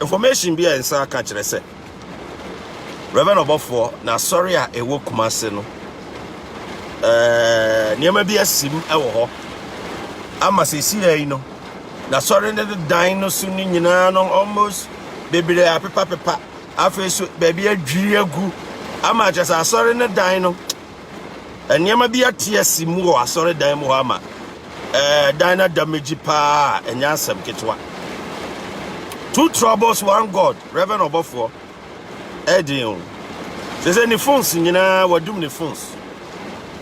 Information bi a nsa aka kyerɛ sɛ Rev. Ɔbɔfoɔ n'asɔre a ɛwɔ Kumase no eh, nneɛma bi asim wɔ hɔ ama sɛsi yi no n'asɔre no dan no so no nyinaa no almost bebree apepapepa afei so baabi adwiri agu ama kyerɛ sɛ asɔre no dan no Nneɛma bi ate asi mu wɔ asɔredan mu hɔ ama ɛdan no ada megye paa a ɛnyɛ asɛm ketewa. Two troubles, one God, Reverend Ɔbɔfoɔ, ɛden o. Sɛ sɛ ne phones nyinaa wadum ne phones.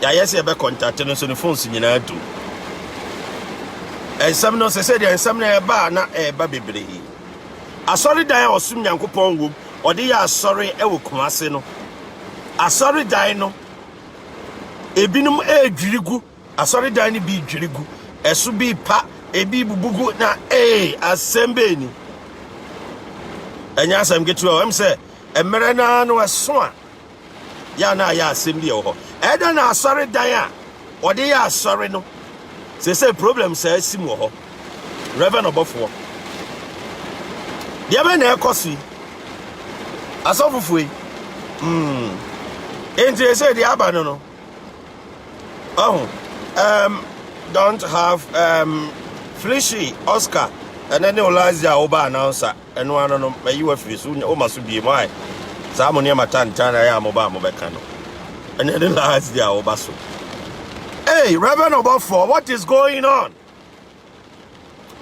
Yɛayɛ sɛ yɛbɛ contact no nso ne phones nyinaa dum. Ɛnsɛm no sɛ sɛ deɛ nsɛm no ɛba a na ɛba bebree. Asɔredan a ɔsom Nyankopɔn wom, ɔde yɛ asɔre ɛwɔ Kumase no. asɔredan no, ebinom redwiri gu, asɔredan no bi dwiri gu, ɛso bi pa, ebi bubu gu, na ee, asɛm bɛɛ ni. Ɛnyɛ asɛm ketewa ɛm sɛ mmerɛ no ara no ɛso a yɛ na ayɛ asɛm bi ɛwɔ hɔ. Ɛda na asɔredan a wɔde yɛ asɔre no, sɛ sɛ problem saa si mu wɔ hɔ. Rev. Ɔbɔfoɔ, deɛ bɛn na ɛrekɔ so yi? Asɔfofoɔ yi, mm, enti ɛsɛ deɛ aba no no, ɔho, um, don't have um, Felicia, Oscar, ɛnɛ ne Olazia a woba announcer, ɛno ano no, mayi wafiri so, woma so bie mu ae, saa mo nneɛma tantan na ɛyɛ a moba a mobɛka no, ɛnɛ ne Olazia a woba so. Hey, Reverend Obofoɔ, what is going on?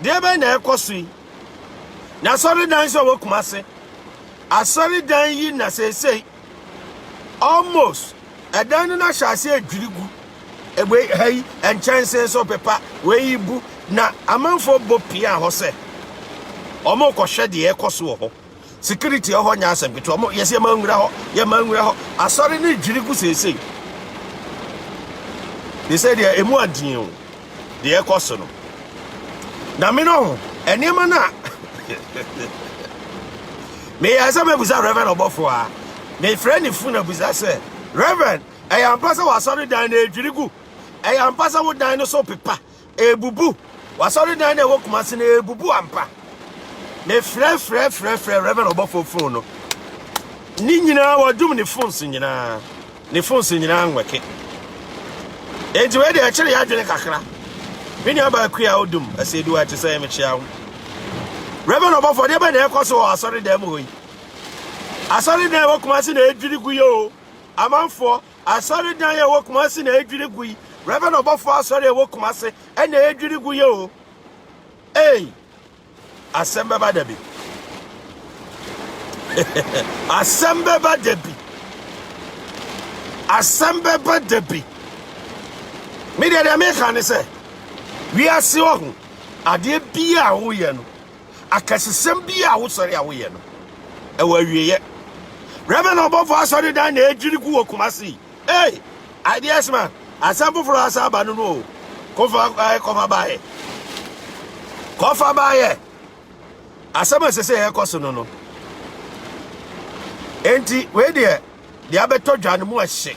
Deɛ bɛn na ɛkɔ so yi? Na asɔredan nso a ɛwɔ Kumase, asɔredan yi na seesei almost ɛdan no na ahyɛ ase adwiri gu. Ebe ha yi nkyɛnse nso pepa wei bu na amanfoɔ bɔ pia hɔ sɛ wɔrekɔhwɛ deɛ ɛkɔ so wɔ hɔ. security wɔ hɔ nyɛ asɛm ketewa ɔmo yɛsɛ yɛma nwura hɔ yɛma nwura hɔ asɔre ne dwiri gu seesei ne sɛ deɛ emu adeɛ o deɛ ɛkɔ so no na me no ho nneɛma no a meyɛ sɛ mɛbusa reverend ɔbɔfo a mefrɛ ne fo na busa sɛ reverend ɛyɛ ampa sɛ w'asɔre dan na ɛdwiri gu ɛyɛ ampa sɛ wo dan no so pepa Ɛrebubu. W'asɔredan no a ɛwɔ Kumasi no, ɛrebubu ampa. Mefrɛfrɛfrɛfrɛ Reverend ɔbɔfoɔ fon no. Ne nyinaa wɔdum ne phones nyinaa. Ne phones nyinaa nwɛke. Enti wei deɛ ɛkyere yɛ adwene kakra. Me nua baako a odum ɛsɛ eduwa ɛte sɛ ɛmekyea ho. Reverend ɔbɔfoɔ deɛ bɛ na ɛkɔ so wɔ asɔredan mu hɔ yi. Asɔredan ɛwɔ Kumasi na ɛdwiri gu yɛ o. Amanfoɔ. Asɔredan a ɛwɔ Kumasi na edwiri gu yi. Reverend Ɔbɔfo Asɔre a ɛwɔ Kumasi ɛna edwiri gu yi o. Ei, asɛm bɛba da bi. asɛm bɛba da bi. Asɛm bɛba da bi. Me deɛ deɛ meka ne sɛ, wiase ɔho adeɛ biara a woyɛ no Akɛsesɛm biara a wosɔre a woyɛ no, ɛwɔ awieɛ. Reverend Ɔbɔfo asɔre dan na ɛdwiri gu wɔ Kumasi. Hey, ideas man, asɛm foforɔ asa aba no no o. Kofa eh, kɔfa baayɛ. Kɔfa baayɛ. Asɛm a ɛsɛ sɛ yɛkɔ so no no. Enti, wei deɛ, deɛ abɛtɔ dwa no mu ɛhye.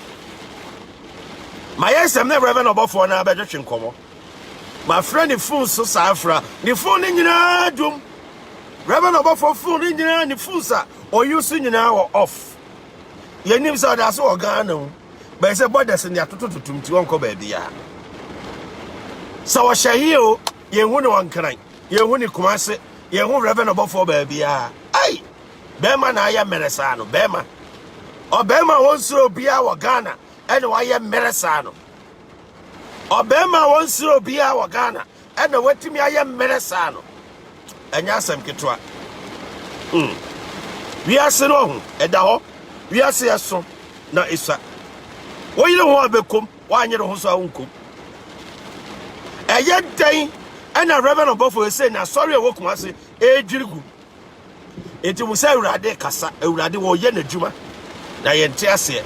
Ma yɛ nsɛm na Reverend Ɔbɔfoɔ no abɛtwetwe nkɔmmɔ. Mafrɛ ne fon so saa afra. Ne fon no nyinaa dwom. Reverend ɔbɔfo fon no nyinaa ne fon sa ɔyi so nyinaa wɔ off. Yɛnim sɛ ɔda so wɔ Ghana mu. Bɛyɛ sɛ borders ne atoto totom nti ɔnkɔ baabi a. Sɛ ɔhyɛ yie o, yɛn ho ne ɔnkran, yɛn ho ne kumase, yɛn ho Reverend ɔbɔfo baabi a. Ai! Bɛrima na ayɛ mmerɛ saa no, bɛrima. Ɔbɛrima a wɔnsoro obiara wɔ Ghana ɛna wayɛ mmerɛ saa no. ɔbarima a ɔnsrɛ obiara wɔ ghana ɛna watumi ayɛ mmerɛ saa no ɛnyɛ asɛm ketewa hmm. wiase no ɔho ɛda hɔ wiase ɛso na ɛsua woyere ho a bɛkom woanyere ho so a wonkom ɛyɛ dɛn ɛna reverend ɔbɔfo ɛsɛ na asɔre a ɛwɔ kuma ase ɛredwiri gu ɛti mu sɛ awurade kasa awurade wɔyɛ n'adwuma na yɛnte aseɛ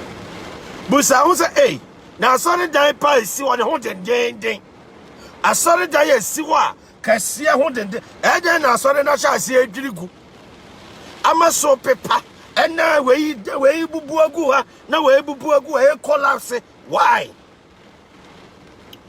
busa ho sɛ ei na asɔredan pa a ɛsi hɔ ne ho dendeenden asɔredan a ɛsi hɔ a kɛseɛ ho denden ɛdɛn na asɔre no ahyɛ aseɛ adwiri gu ama so pepa ɛna wei wei bubu agu ha na wei bubu agu ha ɛkɔlapse why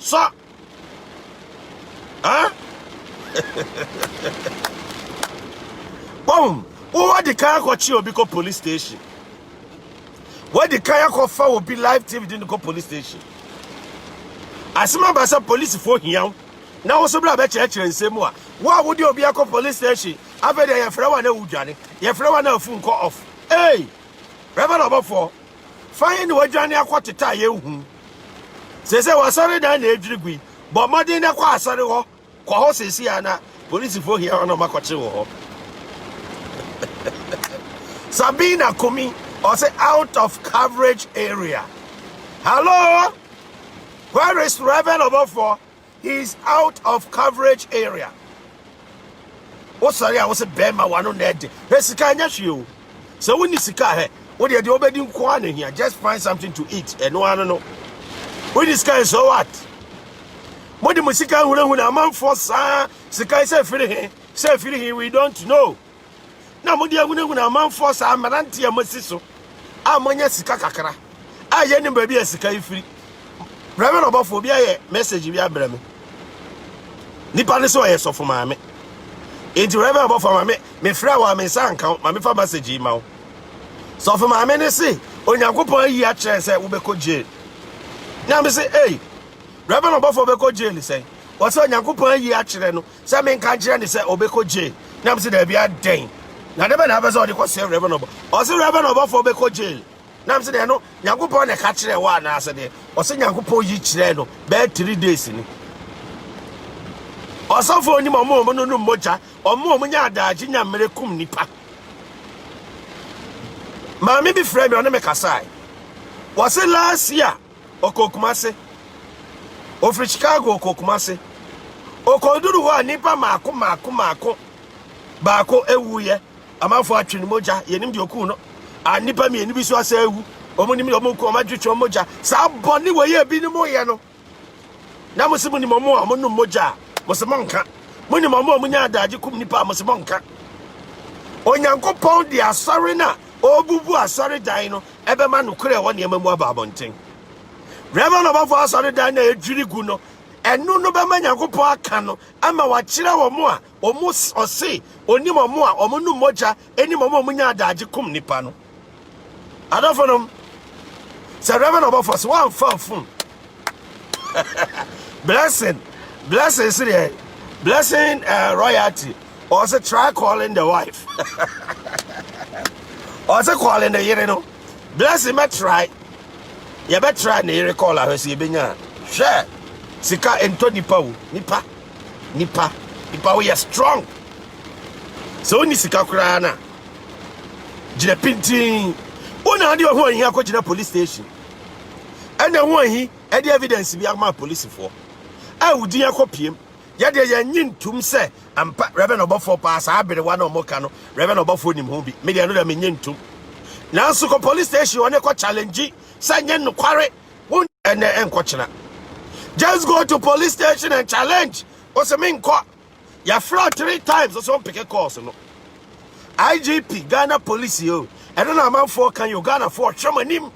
Sɔ! Hã? Wɔn, wɔadi kan akɔkye obi kɔ police station. Wɔadi kan akɔfa obi live TV de no kɔ police station. Asɛm aba sɛ polisifoɔ hia wo na wo so berɛ a bɛkyerɛkyerɛ nsɛm mu a wo a wode obi akɔ police station afei deɛ yɛfrɛ wo a na wodwane yɛfrɛ wo a na afu nkɔ off. Ei! Reverend ɔbɔfoɔ Fa he na woadwane akɔtete a yenhu? Seesei w'asɔredan na edwiri gui. Bɔ mmɔden na kɔ asɔre hɔ. Kɔ hɔ seesei ara na polisifo hia wɔn a wɔakɔkyere wo hɔ. Sabina Kumi, ɔse out of coverage area. Hello? Where is Reverend Obofoɔ? He is out of coverage area. Wosɔre a wose bɛrima wano na ɛde. Hɛ sika nyɛ hwee o. Sɛ wonni sika hɛ, wo deɛ deɛ wobɛdi nko ara na hia. Just find something to eat. Ɛno ara no. Wonni sika and so what? Mode mo sika hunahuna amanfoɔ saa sika sɛ firi he sɛ firi he we don't know. na mode ahunahuna amanfoɔ saa mmeranteɛ a moasi so a moanya sika kakra a yɛnim baabi a sika yi firi brɛ me na ɔbɔfoɔ bi ayɛ message bi abrɛ me nipa no sɛ ɔyɛ sɔfo maame nti brɛ me ɔbɔfoɔ ma me mefrɛ wɔ a me nsa nka wo ma mefa message yi ma wo sɔfo maame no se onyankopɔn ayi akyerɛ sɛ wobɛkɔ jail na me se ei brɛ me na ɔbɔfoɔ bɛkɔ jail sɛn wɔsɛ onyankopɔn ayi akyerɛ no sɛ menka nkyerɛ no sɛ ɔbɛkɔ Jay na mese daabi adɛn na dɛbɛ na abɛsɛ ɔde kɔsɛ Reverend Obɔ ɔse Reverend Obɔfoɔ bɛkɔ Jay na mese deɛ no Nyankopɔn na ɛka kyerɛ wɔ anaasɛ deɛ ɔse Nyankopɔn yi kyerɛ no bɛyɛ 3 days ni ɔsɔfoɔ nim ɔmo ɔmo no no mmogya ɔmo ɔmo nya adaagye nya mmerɛ kum nipa maame bi frɛ me ɔne me kasae wɔse last year Ɔkɔɔ Kumase. Ɔfiri Chicago ɔkɔɔ Kumase. Ɔkɔduru hɔ a nnipa mmaako mmaako mmaako baako awuiɛ. Amanfoɔ atwe ne mogya. Yɛnim deɛ ɔkuu no. A nnipa mmienu bi so asɛ awu. Wɔn nim deɛ wɔn ku wɔn atwetwe wɔn mogya. Saa bɔne wɔ yɛ bi ne mo yɛ no. Na mo se mo nim wɔn a wɔn num mogya a mo se mo nka. Mo nim wɔn a wɔn nya adagye kum nnipa a mo se mo nka. Onyankopɔn de asɔre no a ɔrebubu asɔredan no ɛbɛma nokorɛ a ɛwɔ nneɛma mu aba abɔnten. Reverend Ɔbɔfoɔ Asɔredan no a ɛdwiri gu no, ɛno no bɛma Nyankopɔn aka no ama wakyerɛ wɔn a wɔn ɔse onim wɔn a wɔn nom mogya anim wɔn a wɔn nya adagye kum nipa no. Adɔfo nom, sɛ Reverend Ɔbɔfoɔ sɛ wɔamfa afum blessing blessing si deɛ blessing uh, royalty ɔsɛ try calling the wife ɔsɛ calling the yere no blessing bɛ try yɛbɛ try ne yere call ahwɛ sɛ yɛbɛnya hwɛ sika ntɔ nipa o nipa nipa nipa woyɛ strong sɛ wonni sika koraa na gyina pintin wona ade ɔho ahia kɔgyina police station ɛna ho ahi ɛde evidence bi ama polisifoɔ a wodin akɔpiem yɛdeɛ yɛnye ntum sɛ ampa Reverend ɔbɔfoɔ paa saa aberewa na ɔmo ka no Reverend ɔbɔfoɔ nim ho bi medeɛ no deɛ menye ntum nanso kɔ police station ɔne kɔ challenge sɛ nye nokware wo ɛnɛ ɛnkɔkyena just go to police station and challenge ɔsɛ menkɔ Yɛfrɛɛ three times ɔsɛ ɔmpeke calls no. IGP Ghana police o, ɛno na amanfoɔ ka yɛ Ghanafoɔ hwɛ mo anim.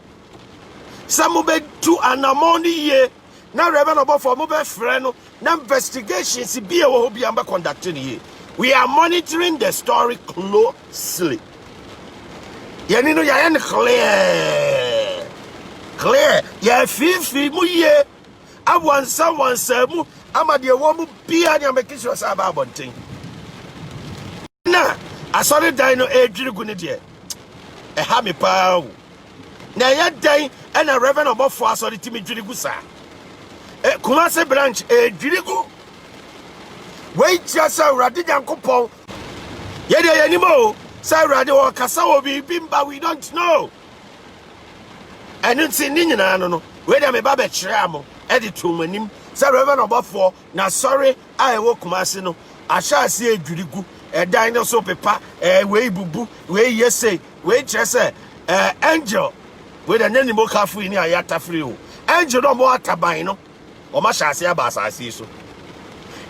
Sɛ mobɛtu anamɔn no yie na Reverend Ɔbɔfoɔ mobɛfrɛ no na investigations bi a ɛwɔ hɔ bia mbɛ conduct no yie. We are monitoring the story closely. Yɛni no yɛayɛ no clear clear yɛafiifii mu yie. Awansam wansaa mu ama deɛ ɛwɔ mu biara ne abɛkisi wɔ sɛ aba abɔnten. Na asɔredan no ɛredwiri gu no deɛ ɛha me paa o. Na ɛyɛ dɛn ɛna Reverend Ɔbɔfoɔ asɔre tumi dwiri gu saa? E, Kumase branch ɛredwiri gu. Wei kyerɛ sɛ Awurade Nyankopɔn yɛdeɛ yɛnim o sɛ Awurade ɔkasa wɔ biribi mba we don't know. ɛno nti ne nyinaa no no wei deɛ meba bɛkyerɛɛ mo de too mo anim sɛ reverend ɔbɔfoɔ na sɔre a ɛwɔ kumase no ahyɛ aseɛ adwiri gu ɛdan no so pepa ɛɛ wei bubu wei yɛ sei wei kyerɛ sɛ ɛɛ angel wei deɛ nyɛ nimokafo yi ne ayɛ atafiri o angel no ɔmo ataban no ɔmo ahyɛ aseɛ aba asase so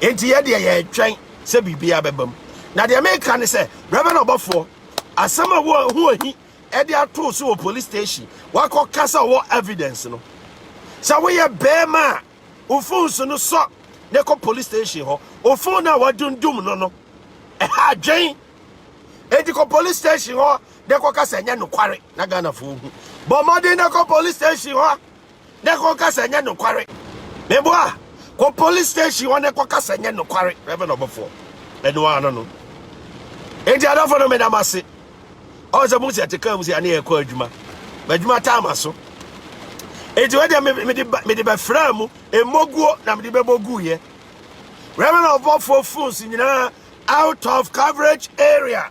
nti yɛ deɛ yɛretwɛn sɛ biribi abɛbam na deɛ meka ne sɛ reverend ɔbɔfoɔ asɛm a ɛwɔ ho ahi ɛde atoo so wɔ police station wakɔ kasa ɔwɔ evidence no sɛ woyɛ bɛrima a ofon so no sɔ ne kɔ police station hɔ ofon no a wadundum no no ɛha adwen eti kɔ police station hɔ ne kɔ kasa nyɛ nokware na ghanafoɔ hu bɔ mmɔden ne kɔ police station hɔ na kɔ kasa ɛnyɛ nokware meboa kɔ police station hɔ na kɔ kasa ɛnyɛ nokware reverend ɔbɔfoɔ ɛno ano no enti adɔfoɔ no meda mo ase ɔwɔ sɛ mo sɛ ɛte kaa mu sɛ ɛne ɛkɔ adwuma m'adwuma taa ma so enti wɔde mede bɛfraa mu mmoguo na mede bɛbɔ guiɛ reverend ɔbɔfoɔ phones nyinaa out of coverage area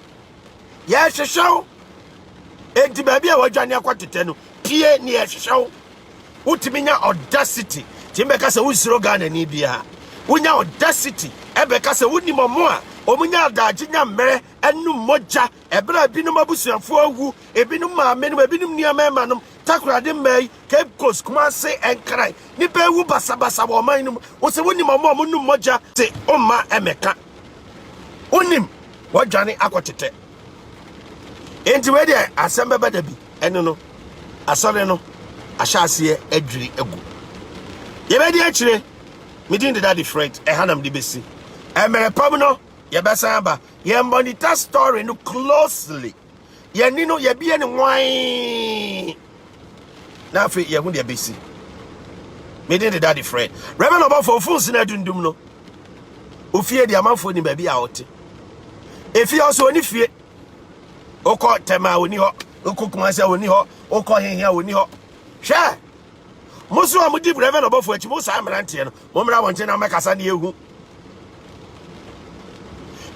Yɛhwehwɛ wo. Enti baabi a wadwane akɔ tetɛ no, pie ne yɛhwehwɛ wo. Wotumi nya audacity tumi bɛka sɛ wonsuro Ghana ni biara. Wonya audacity ɛbɛka sɛ wonim ɔmo a ɔmo nya adagye nya mmerɛ ɛnom mogya ɛberɛ a ebinom abusuafoɔ awu, ebinom maame nom, ebinom nuammarima nom, Takoradi mmaa yi, Cape Coast, Kumase, Nkran, nipa ewu basabasa wɔ ɔman no mu. Wosɛ wonim ɔmo a ɔmo nom mogya te ɔmma ɛmɛka. wonim wɔadwane akɔtetɛ enti wei deɛ asɛm bɛba da bi ɛne no asɔre no ahyɛ aseɛ adwiri agu yɛbɛdi akyire medin deda different ɛha nam de bɛsi mmerɛ pam no yɛbɛsan aba yɛmmɔnita story no closely yɛn ani no yɛbie ne nwan na afei yɛho deɛ bɛsi mede ne dade frɛ rɛbɛ na ɔbɔfo ɔfo nsena adundum no ofie deɛ amanfoɔ ni baabi a ɔte efie ɔso ɔni fie wokɔ tɛma a ɔni hɔ wokɔ kumase a ɔni hɔ wokɔ hehe a ɔni hɔ hwɛ Mo nso a modi Reverend Ɔbɔfo akyi, mo saa mmeranteɛ no, mommra wɔn nkyɛn na mmɛkasa ne yɛhu.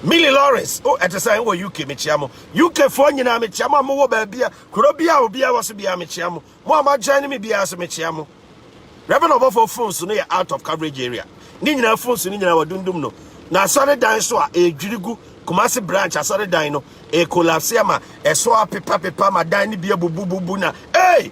Millie Lawrence, o ɛte sɛ wɔ UK mekyia mo. UKfoɔ nyinaa mekyia mo a mowɔ baabi a kuro bi a obiara wɔ so biara mekyia mo. Mo a moajoin me biara so mekyia mo. Reverend Ɔbɔfo phone so no yɛ out of coverage area. Ne nyinaa phone so no nyinaa wɔdundum no. Na asɔredan so a ɛredwiri gu Kumasi branch asɔredan no ɛrekolapse ama ɛso apepapepa ma dan no bi abubububu na ee.